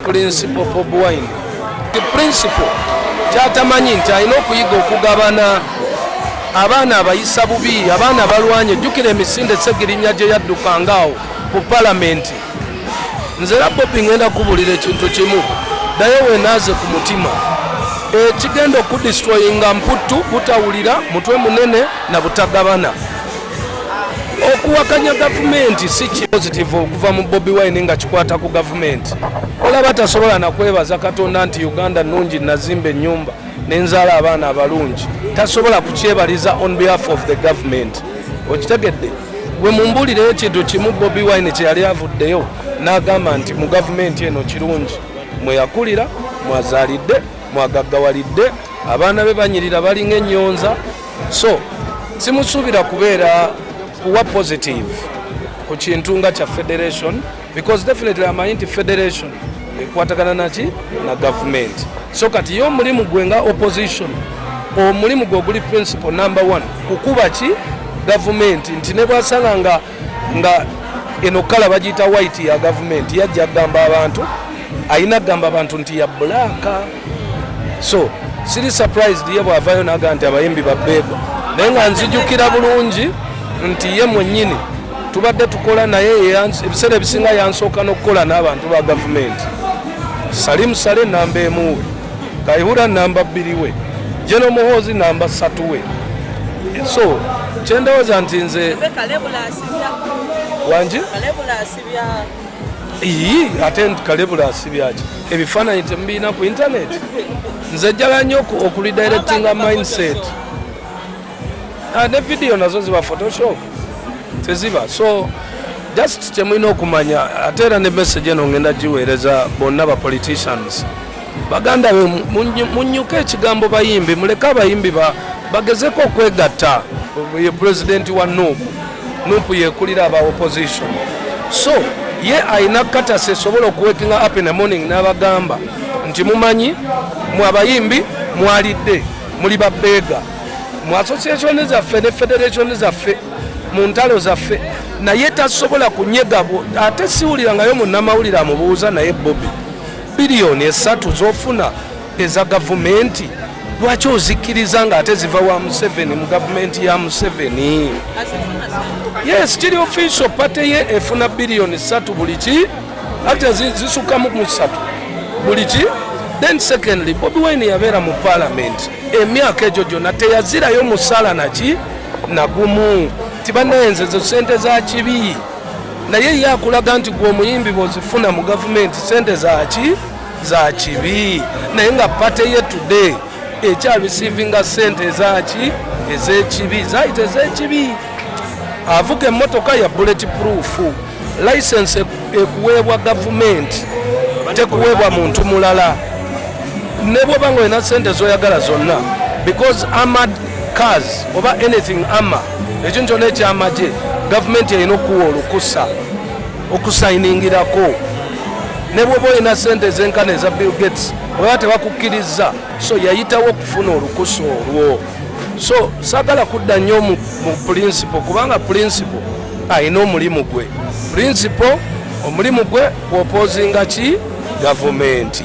principal bob wine the principal kyatamanyi nti alina okuyiga okugabana abaana abayisa bubi abaana balwanye jjukira emisinde segirinya gye yaddukanga awo ku palamenti nze era bobi ngenda kubulira ekintu kimu naye wenaaze ku mutima ekigenda okudistroyinga mputtu butawulira mutwe munene na butagabana okuwakanya gavumenti si kipositivu okuva mu bobi wine nga kikwata ku gavumenti olaba tasobola nakwebaza katonda nti uganda nungi nazimba enyumba nenzaala abaana abalungi tasobola kukyebaliza on behalf of the government okitegedde gwe mumbulire ekintu kimu bobi wine kyeyali avuddeyo nagamba nti mu gavumenti eno kirungi mweyakulira mwazaalidde mwagaggawalidde abaana be banyirira balinga enyonza so simusuubira kubeera kuwa positive ku kintu nga kya federation because definitely amanyi nti federation ekwatagana naki na gavumenti so kati ye omulimu gwe nga opposition omulimu gwe oguli principal number one kukuba ki gavumenti nti nebwasanga nga nga eno kala bagiyita white ya gavumenti yajja kugamba abantu ayina kugamba abantu nti ya bulaaka so siri surprised ye bwavayo naga nti abayimbi babeega naye nga nzijukira bulungi nti ye mwenyini tubadde tukola naye ebiseera ebisinga yansooka n'okukola n'abantu ba gavumenti salimu sale namba emuwe Kayihura namba bbiri we General Muhoozi namba ssatu we so kyendowooza nti nze wangi ii ate kalebula asibyaki ebifaananyi temubiina ku internet nze jjala nnyo okulidirectinga mindset ah, ne vidiyo nazo ziba photoshop teziba so just kyemulina okumanya ate era ne message eno ngenda giweereza bonna ba politicians baganda be munyuka ekigambo bayimbi muleke abayimbi bagezeko okwegatta ye pulezidenti wa nup nup yekulira aba opposition so ye alina katasi esobola okuwekinga up in the morning n'abagamba nti mumanyi mwe abayimbi mwalidde muli babeega mu associationi zaffe ne federationi zaffe mu ntalo zaffe naye tasobola kunyega ate siwulirangayo munnamawulire amubuuza naye bobi Biliyoni esatu zofuna eza gavumenti lwaki ozikkiriza nga ate ziva wa museveni mu gavumenti ya museveni yes kiri official pate ye efuna biliyoni satu buli ki ate zisukamu mu satu buli ki then secondly bobi wine yabeera mu palamenti emyaka egyo gyonna teyazirayo musala naki nagumu tibanayenzezo sente za kibi naye ye akulaga nti gwe omuyimbi bwozifuna mu gavumenti sente zaki za kibi naye nga pate ye today ekya receivinga sente ezaki ezekibi zayita ezekibi avuga emotoka ya bullet proof license ekuweebwa gavumenti tekuweebwa muntu mulala nebwoba nga olina sente zoyagala zonna because amad cars oba anything ama ekintu kyona ekyamagye gavumenti erina okuwa olukusa okusayiningirako ne bwoba olina sente ezenkana eza bill gates oba tebakukkiriza so yayitawo okufuna olukusa olwo so sagala kudda nnyo mu pulinsipo kubanga pulinsipo alina omulimu gwe pulinsipo omulimu gwe kwopozinga ki gavumenti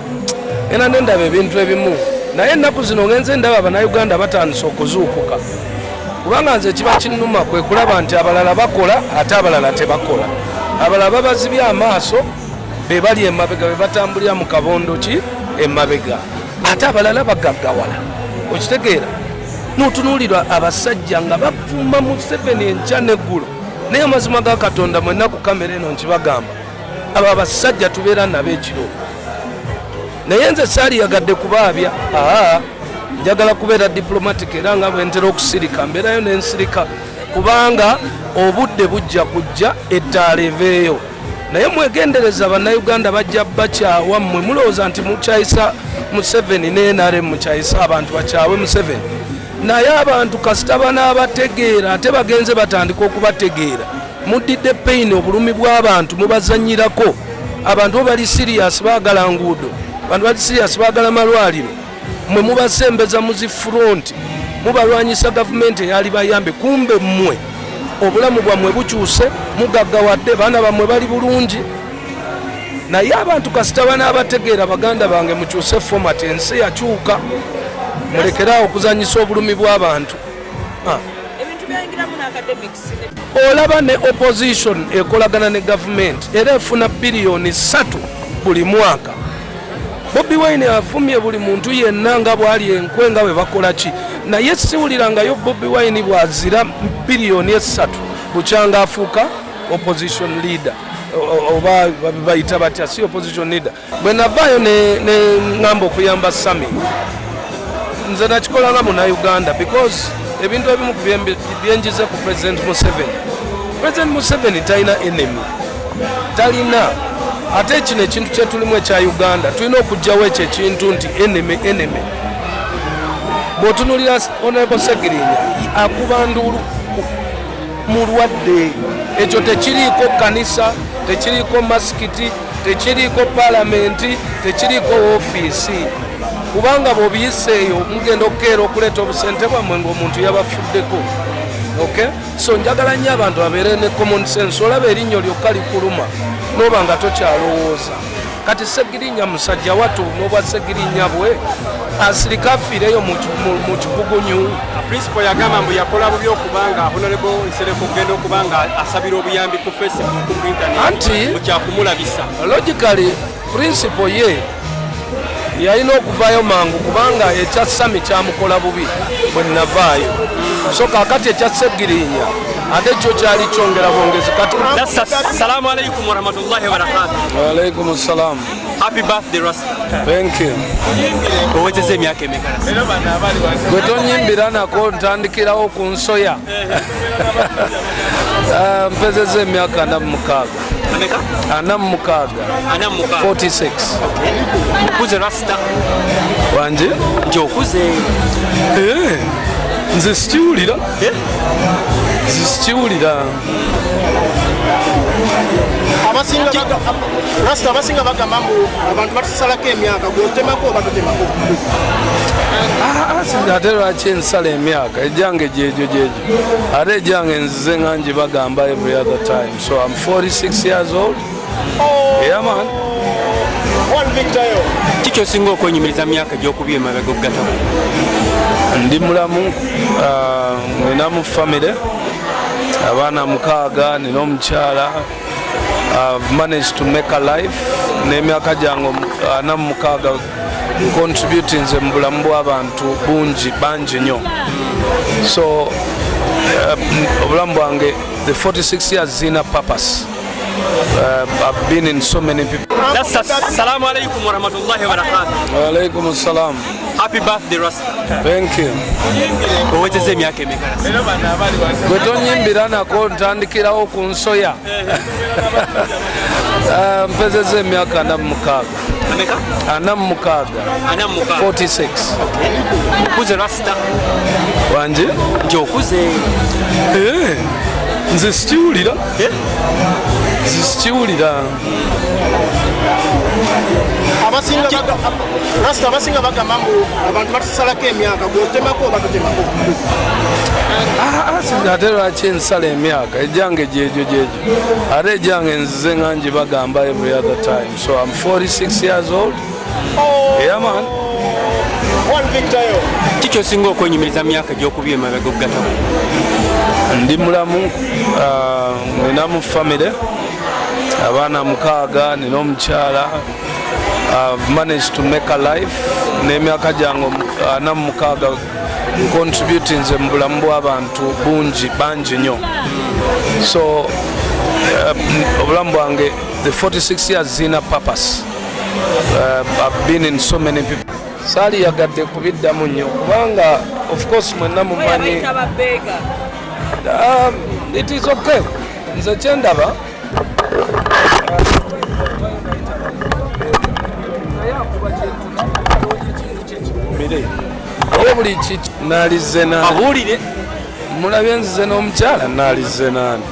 era nendaba ebintu ebimu naye ennaku zino ngenze ndaba abanauganda batandise okuzuukuka kubanga nze ekiba kinnuma kwe kulaba nti abalala bakola ate abalala tebakola abalala babazibye amaaso be bali emabega be batambulira mu kabondo ki emabega ate abalala bagaggawala okitegeera notunuulirwa abasajja nga bavuma museveni enkya neggulo naye amazima ga katonda mwenna ku kamera eno nkibagamba abo abasajja tubeera nabo ekiro naye nze saaliyagadde kubaabya aa njagala kubeera diplomatic era nga bwentera okusirika mbeerayo nensirika kubanga obudde bujja kujja ettaala eveeyo naye mwegendereza bannayuganda bajja bakyawa mmwe mulowooza nti mukyayisa museveni ne nrm mukyayisa abantu bakyawe museveni naye abantu kasita banaabategeera ate bagenze batandika okubategeera muddidde pain obulumi bw'abantu mubazanyirako abantu bo bali sirias baagala nguudo abantu bali sirias baagala malwaliro mwe mubasembeza mu zi furonti mubalwanyisa gavumenti eyali bayambe kumbe mmwe obulamu bwammwe bukyuse mugaggawadde baana bammwe bali bulungi naye abantu kasita banaabategeera baganda bange mukyuse fomati ensi yakyuka mulekeraawo okuzanyisa obulumi bw'abantu ah. olaba ne opposition ekolagana ne gavumenti era efuna biliyoni ssatu buli mwaka bobi wine avumye buli muntu yenna nga bwali enkwe nga bwe bakola ki naye siwulirangayo bobi wine bwazira biliyoni essatu bukyanga afuuka opposition leader oba bayita batya si opposition leader bwe navaayo ne ŋŋamba okuyamba sami nze nakikola nga munauganda because ebintu ebimu byenjize ku president museveni president museveni talina enemy talina ate kino ekintu kyetulimu ekya uganda tulina okugjawo ekyo ekintu nti enemy enemy bwotunulira honorable segirinya akuba nduulu mulwadde ekyo tekiriiko kanisa tekiriiko masikiti tekiriiko palamenti tekiriiko ofiisi kubanga bwobiyiseeyo mugenda okukeera okuleeta obusente bwammwe ngaomuntu yabafuddeko ok so njagala nnyo abantu abeere ne common sense olaba erinnyo lyokka likuluma noba nga tokyalowooza kati segirinya musajja watu nobwa segirinya bwe asirika afiireyo mu kikugunyu Principal yagamba mbu yakola bubi okuba nga Honorable Nsereko okugenda okuba nga asabira obuyambi ku Facebook ku internet anti mukyakumulabisa logically principal ye yalina okuvaayo mangu kubanga ekya sami kyamukola bubi bwe navaayo so kakati ekya segirinya ate kyo kyali kyongera bwongezi kati salamu alaikum warahmatullahi wabarakatu waalaikum salamu Happy birthday Rasta. Thank you. Owezeza emyaka emeka? Gwe tonyimbira nako ntandikirawo ku nsoya. Ah, mpezeza emyaka ana mu mukaaga. Ana mu mukaaga. 46. Okuze Rasta. Wanje? Nti okuze. Eh, nze sikiwulira. Eh? Nze sikiwulira. rasita abasinga bagamba mbu abantu batusalako emyaka gwotemako oba tutemako ah, ah, ate lwaki ensala emyaka ejange gyegyo gyegyo ate ejange nzize nga ngi bagamba every other time so am 46 years old oh. yeah, man kikyosinga okwenyumiriza myaka gyokubya emabega okugatako ndi mulamu ah, ninamu famire abaana mukaaga nina omukyala manage to make a life n'emyaka gyange ana mu mukaaga ncontributinze mu bulamu bw'abantu bungi bangi nnyo so uh, obulamu bwange the 46 years zina purpose Uh, I've been in so many people. Assalamu alaikum warahmatullahi wabarakatuh. Wa alaikum assalam. Happy birthday Rasta. Thank you. Owezeza emyaka emeka? Gwe tonyimbira nako ntandikirawo ku nsoya. Ah, mpezeza emyaka ana mu mukaaga. Ana mu mukaaga. 46. Okuze Rasta. Wangi? Nti okuze. Eh, nze sikiwulira. Eh? Nze sikiwulira. abasingarasta abasinga bagamba mbu abantu batusalako emyaka gwotemako batutemako ah, ah, ate lwaki ensala emyaka ejange gyegyo gyegyo ate ejange nzize nga ngi bagamba every other time so am 46 years old oh. yeah, man kikyosinga okwenyumiriza myaka gyokubya emabega okugatako ndi mulamu ah, ninamu famire abaana mukaaga nina omukyala I've managed to make a life n'emyaka gyange ana mu mukaaga ncontributinze mu bulamu bw'abantu bungi bangi nnyo so uh, obulamu bwange the 46 years zirina purpose uh, I've been in so many people saali yagadde kubiddamu nnyo kubanga of course mwenna mumanyi um, it is okay nze kyendaba naye buli kiki nalize nabuulire mulabye nzize n'omukyala nalize nani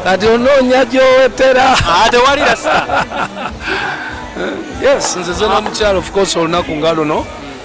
kati onoonya gyowetera ah, tewali rasta yes nzize n'omukyala of course olunaku nga luno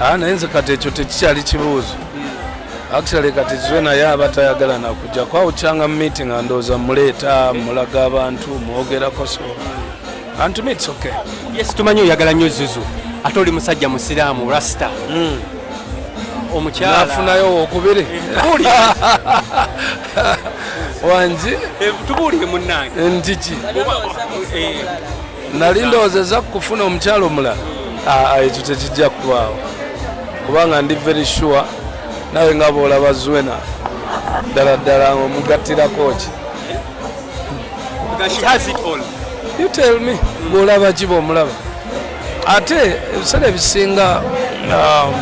Ah, naye nze kati ekyo tekikyali kibuuzo actually kati zwe naye aba tayagala nakujja kwawukyanga mu meeting andooza muleeta mulaga abantu mwogerako so antu meets okay yes tumanyi oyagala nnyo zuzu ate oli musajja musiraamu rasta mm. omukyalafunayo wokubiri eh, wangi eh, tubuulire munange ntiki eh, nali ndowooza eza kufuna omukyala omulala ah, ah, ekyo tekijja kubaawo kubanga ndi very sure nawe nga boolaba zwena ddala ddala omugattirako ki you tell me bwolaba ki bwomulaba ate ebiseera ebisinga um,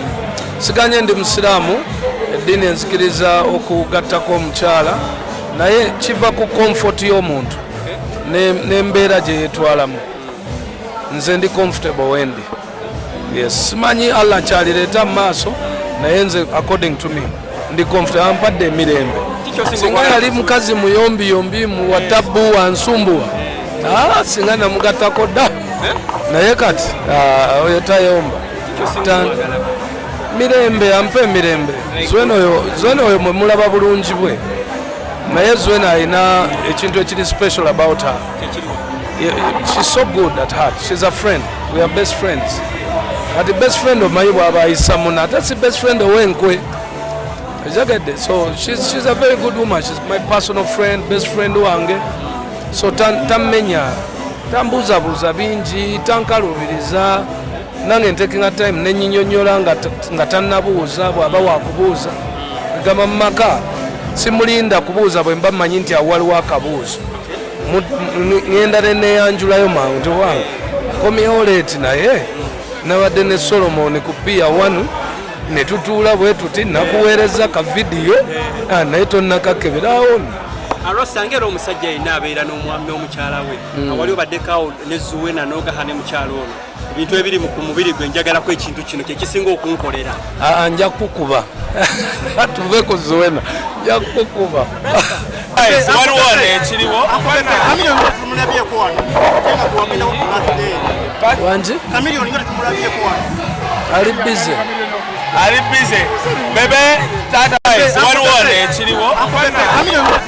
siganye ndi musiraamu eddiini enzikiriza okugattako omukyala naye kiva ku comfort y'omuntu nembeera gyeyetwalamu nze ndi comfortable wendi yes simanyi allah kyalireta mumaaso naye nze according to me ndi comfortable ampadde emirembe singa yali mukazi muyombiyombi muwatabbu wansumbuwa ah, singa namugatako da eh? naye kati ah, oyo tayomba mirembe ampa emirembe zona oyo mwemulaba bulungi bwe naye zuena alina ekintu ekiri special about her she's so good at heart she's a friend we are best friends kati best friend omanyi bwaba ayisamuna ate si best friend owenkwe ejagadde so she's, she's a very good woman she's my personal friend best friend wange so tammenya tan tambuuzabuuza bingi tankaluubiriza nange ntekinga time nenyinyonyola nga tanabuuza bwaba wakubuuza egamba mumaka simulinda kubuuza bwemba manyi nti awaliwo akabuuzo ngenda neneyanjulayo mangu nti wange akomyewo leeti naye nabadde ne solomoni ku piya one netutuula bwe tuti nakuweereza ka vidiyo ah, naye tonnakakeberawo alwasange era omusajja yenna abeera n'omukyala we hmm. awali obaddekawo nezuwena nogaha ne mukyala ono ebintu ebiri mu ku mubiri gwe njagalako ekintu kino kyekisinga okunkolera ah, nja kukuba tuve ku zuwena nja kukuba waliwo wano ekiriwo wangi ali bize ali bize bebe tata waliwo wano ekiriwo